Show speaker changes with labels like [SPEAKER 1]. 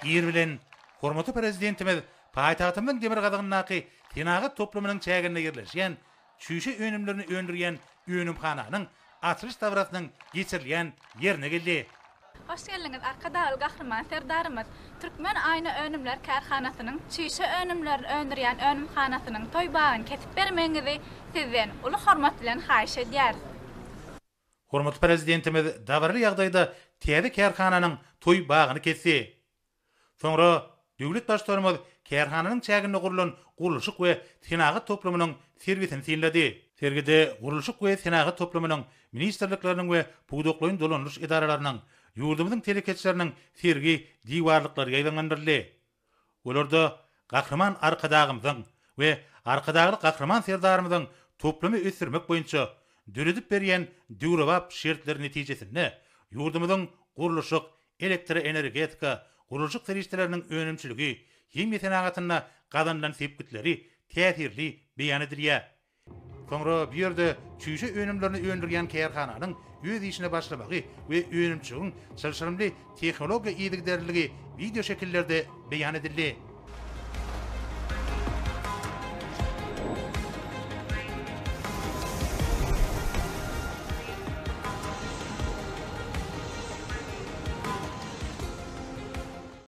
[SPEAKER 1] Ir bilen hormatly Prezidentimiz paýtagtymyzyň demirgazygyndaky senagat toplumynyň çäginde ýerleşýän çüýşe önümlerini öndürýän önümhananyň açylyş dabrasynyň geçirilýän ýerine geldi. Hoş geldiňiz,
[SPEAKER 2] Arkadagly Gahryman Serdarymyz Türkmen aýna önümler kärhanasynyň çüýşe önümlerini öndürýän önümhanasynyň toý bagyny kesip bermegiňizi Sizden uly hormat bilen haýyş edýäris.
[SPEAKER 1] Hormatly Prezidentimiz dabaraly ýagdaýda täze kärhananyň toý bagyny kesdi. Soňra döwlet Baştutanymyz kärhananyň çäginde gurlan gurluşyk we senagat toplumynyň sergisini synlady. Sergide gurluşyk we senagat toplumynyň, ministrlikleriniň we pudaklaýyn dolandyryş edaralarynyň, ýurdumyzyň telekeçileriniň sergi diwarlyklary ýaýbaňlandyryldy. Olarda Gahryman Arkadagymyzyň we Arkadagly Gahryman Serdarymyzyň toplumy ösdürmek boýunça döredip berýän döwrebap şertleri netijesinde ýurdumyzyň gurluşyk, elektroenergetika, gurluşyk serişdeleriniň önümçiligi, himiýa senagatynda gazanylan sepgitleri täsirli beýan edilýär. Soňra bu ýerde çüýşe önümlerini öndürýän kärhananyň öz işine başlamagy we önümçiligiň çylşyrymly tehnologiýa yzygiderliligi wideoşekillerde beýan edildi.